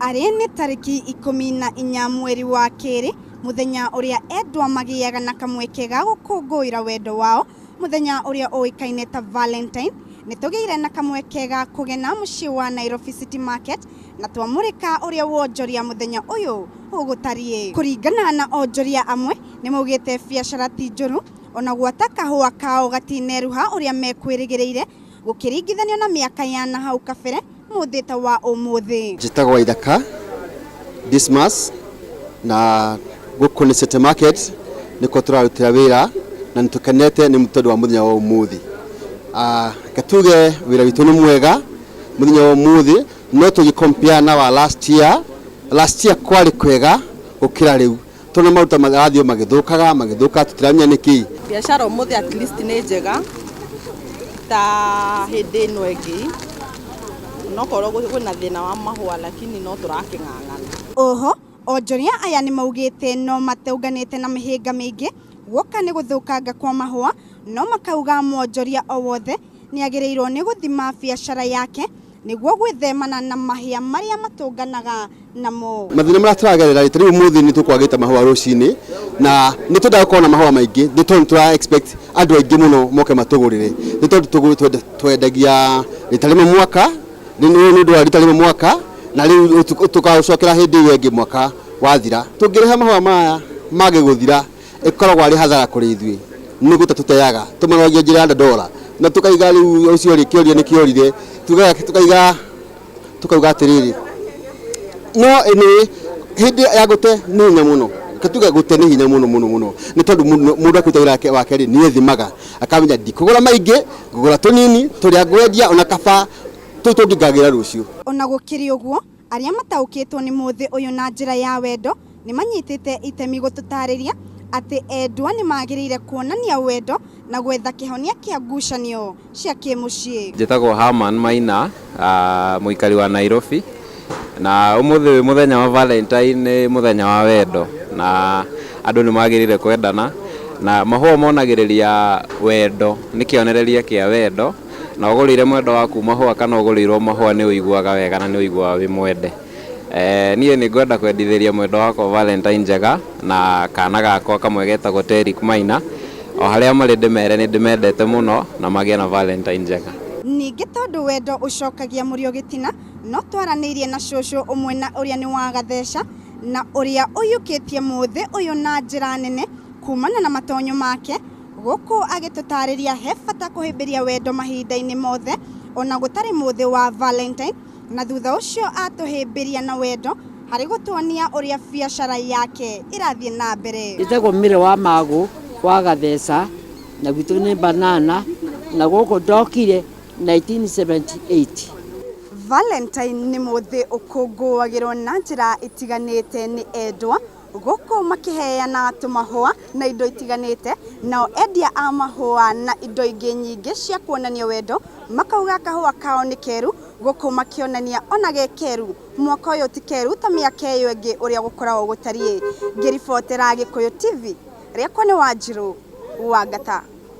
Arĩ nĩ tarĩki ikũmi na inya mweri wa kerĩ, mũthenya ũrĩa endwa magĩaga na kamweke ga gũkũngũĩra wendo wao, mũthenya ũrĩa ũĩkaine ta Valentine, nĩ tũgĩire na kamweke ga kũgena mũciĩ wa Nairobi City Market na twamũrĩka ũrĩa wonjoria mũthenya ũyũ ũgũtariĩ. Kũringana na onjoria amwe, nĩ maugĩte biacara ti njũru ona gwata kahũa kao gatineruha ũrĩa mekwĩrĩgĩrĩire, Gũkĩringithanio na mĩaka ya na hau kabere, mũthĩ ta wa ũmũthĩ. Njĩtagwo Waithaka Dismas na gũkũ nĩ City Market nĩkuo tũrarutĩra wĩra na nĩ tũkenete nĩ tondũ wa mũthenya wa ũmũthĩ. Reke tuge wĩra witũ nĩ mwega mũthenya wa ũmũthĩ no tũngĩ compare na wa last year, last year kwarĩ kwega gũkĩra rĩu. Tũrĩ na maruta marathiĩ o magĩthũkaga magĩthũkaga tũtiramenya nĩkĩ. Biacara ũmũthĩ at least nĩ njega ta hĩndĩ ĩno ĩngĩ nokorwo kwĩna thĩna wa mahũa lakini no tũrakĩng'ang'ana. Oho, onjoria aya nĩmaugĩte no matũnganĩte na mĩhĩnga mĩingĩ guoka nĩ gũthũkanga kwa mahũa no makauga mwonjoria o wothe nĩagĩrĩirwo nĩ gũthima biacara yake nĩguo gwĩthemana na mahĩa marĩa matũnganaga namo. Mathĩna marĩa tũragerera rĩ, ta rĩu ũmũthĩ nĩ tũkwagĩte mahũa rũcinĩ na nĩ twendaga gũkorwo na mahũa maingĩ nĩ tondũ nĩ tũra expect andũ aingĩ mũno moke matũgũrĩre nĩ tondũ tũgũ- twenda- twendagia rita rĩmwe mwaka nĩ nĩ- nĩ ũndũ wa rita rĩmwe mwaka na rĩu tũkagũcokera hĩndĩ ĩyo ĩngĩ mwaka wathira tũngĩrehe mahũa maya mage gũthira ĩkoragwo arĩ hathara kũrĩ ithuĩ nĩ gũte tũteaga tũmaroragia njĩra ya ndandora na tũkaiga rĩu ũcio rĩ kĩoria nĩ kĩorire tugaga tũkaiga tũkauga atĩrĩrĩ no ĩnĩ hĩndĩ ya gũte nĩ hinya mũno Reke tuge gũte nĩ hinya mũno mũno mũno nĩ tondũ mũndũ- mũndũ akĩruta wĩra wake- wake rĩ nĩ ethimaga akamenya ndikũgũra maingĩ ngũgũra tũnini tũrĩa ngwendia ona kaba tũu tũngĩ ngagĩra rũciũ Ona gũkĩrĩ ũguo, Arĩa mataũkĩtwo nĩ mũthĩ ũyũ na njĩra ya wendo nĩ manyitĩte itemi gũtũtaarĩria atĩ endwa nĩ magĩrĩire kuonania wendo na gwetha kĩhonia kĩa ngucanio cia kĩmũciĩ. Njĩtagwo Herman Maina, mũikari wa Nairobi, na ũmũthĩ wĩ mũthenya wa Valentine, nĩ mũthenya wa wendo, na andũ nĩ magĩrĩire kwendana, na mahũa monagĩrĩria wendo, nĩ kĩonereria kĩa wendo. na ũgũrĩire mwendwa waku mahũa kana ũgũrĩirwo mahũa nĩ ũiguaga wega na nĩ ũiguaga wĩ mwende. Eh, niĩ nĩ ngwenda kwendithĩria mwendwa wakwa Valentine njega na kana gakwa kamwe getagwo Terick Maina. O harĩa marĩ ndĩmere nĩ ndĩmendete mũno na magĩe na Valentine njega. Ningĩ tondũ wendo ũcokagia mũrĩo gĩtina, no twaranĩirie na cũcũ ũmwe na ũrĩa nĩ wa Gatheca na ũrĩa ũiyũkĩtie mũthĩ ũyũ na njĩra nene kumana na matonyo make, Gũkũ agĩtũtaarĩria he bata kũhĩmbĩria wendo mahinda-inĩ mothe o na gũtarĩ mũthĩ wa Valentine, na thutha ũcio atũhĩmbĩria na wendo harĩ gũtuonia ũrĩa biacara yake ĩrathiĩ na mbere. Njĩtagwo Mary wa Magũ wa Gatheca na gwitũ nĩ Banana na gũkũ ndokire 1978. Valentine nĩ mũthĩ ũkũngũagĩrwo na njĩra itiganĩte nĩ endwa gũkũ makĩheana tũmahũa na indo itiganĩte, nao endia a mahũa na indo ingĩ nyingĩ cia kuonania wendo makauga kahũa kao nĩ keru, gũkũ makĩonania ona ge keru, mwaka ũyũ ti keru ta mĩaka ĩyo ĩngĩ ũrĩa gũkoragwo gũtariĩ. Ngĩribotera Gĩkũyũ TV, rĩakwa nĩ Wanjirũ Wangata.